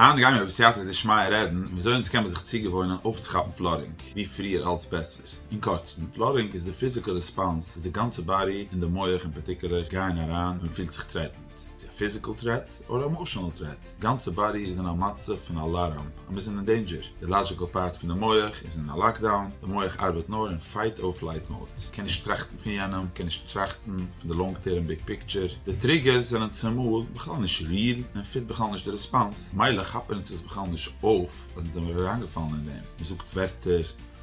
היינט גיימיר בסייעתא דשמיא רעדן וויאזוי אונז קען מען זיך צוגעוואוינען אויפצוכאפן פלארינג ווי פריער אלץ בעסער. אין קורצן, פלארינג איז די פיזיקעל רעספאנס וואס די גאנצע באדי און די מח אין פארטיקולער גייען אריין ווען מ'פילט זיך טרעטענד, צו א פיזיקעל טרעט אדער א עמאשענעל טרעט, די גאנצע באדי איז אין א מצב פון אלאראם. אז מיר זענען אין דעינדזשער, די לאדזשיקעל פארט פון די מח איז אין א לאקדאון, די מח ארבעט נאר אין פייט אור פלייט מאוד, קען נישט טראכטן פון יענעם, קען נישט טראכטן פון די לאנג טערם ביג פיקטשער, די טריגערס זענען צומאל בכלל נישט ריעל און פיט בכלל נישט די רעספאנס, מילא כאפן אונז עס בכלל נישט אויף אז אונז זעמיר אריינגעפאלן אין דעם, מ'זאגט ווערטער,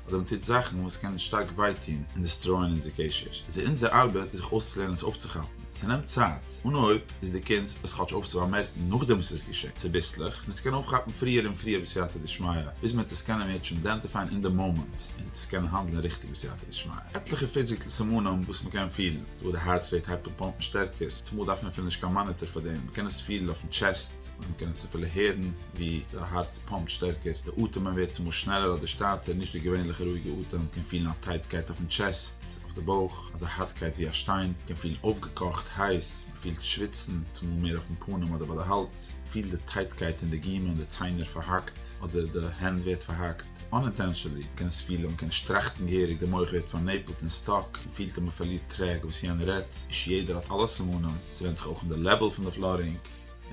אדער מ'טוט זאכן וואס קען שטארק וויי טון און דעסטרויען אונזער קשר, איז עס אונזער ארבעט זיך אויסצולערנען עס אויפצוכאפן. ס'נעמט צייט, און אויב איז די קונץ עס כאטש אויף צו באמערקן נאכדעם וואס עס איז געשען, צוביסלעך, און עס קען אויפכאפן פריער און פריער בסייעתא דשמיא, ביז מען וועט עס קענען מיד שוין אידענטיפייען אין די מאמענט, און צו קענען האנדלען ריכטיג בסייעתא דשמיא. עטליכע פיזיקל סימנים וואס מען קען פילן, ס'דא וואס די הארץ רעיט הייבט אן פאמפן שטערקער, צומאל דארף מען אפילו נישט קיין מאניטער פאר דעם, מען קען עס פילן אויפן טשעסט, מען קען עס אפילו הערן ווי די הארץ פאמפט שטערקער, די אטעמען ווערט צומאל שנעלער אדער שטייטער, נישט די געווענליכע רואיגע אטעם, קען פילן א טייטקייט אויפן טשעסט, אויף די בויך, אזא הארטקייט ווי א שטיין, קען פילן אויפגעקאכט, הייס, מען פילט שוויצן, צומאל מער אויפן פנים אדער ביי די האלז, פילט די טייטקייט אין די גומען, די ציינער פארהאקט, אדער די הענט ווערט פארהאקט, אנאינטענשענלי, מען קען עס פילן, מען קען נישט טראכטן געהעריג, די מח ווערט פארנעפלט און סטאק, מען פילט אז מען פארלירט טרעק וואס יענער רעדט, נישט יעדער האט אלע סימנים, ס'ווענדט זיך אויך אין די לעוועל פון די פלארינג.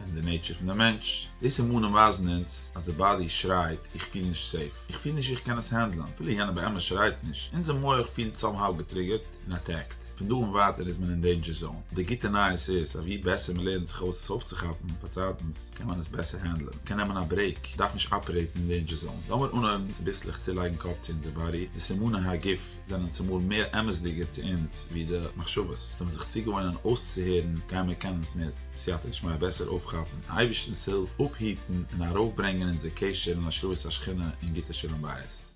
און די נעטשער פון די מענטש. די סימנים ווייזן אונז אז די באדי שרייט איך פיל נישט סעיף, איך פיל נישט איך קען עס הענדלען, אפילו יענער באמת שרייט נישט, אונזער מוח פילט סאמהאו געטריגערט און אטעקט, פון דא און ווייטער איז מען אין דעינדזשער זאון. די גוטע נייעס איז אז ווי בעסער מען לערנט זיך אויס עס אויפצוכאפן באצייטנס קען מען עס בעסער הענדלען, מען קען נעמען א ברעיק, מען דארף נישט אפערעיטן אין דעינדזשער זאון. לאמיר אנהויבן צוביסלעך צולייגן קאפ צו אונזער באדי, די סימני הגוף. זענען צומאל מער אמת'דיגער צו אונז ווי די מחשבות, זיי האבן זיך צוגעוואוינען אויסצוהערן, גייען מיר קענען עס מיט סייעתא דשמיא בעסער אויפכאפן, מיטן אייבערשטנ'ס הילף, אפהיטן און ארויפברענגען אונזער קשר אין השראת השכינה און גוטע שלום בית.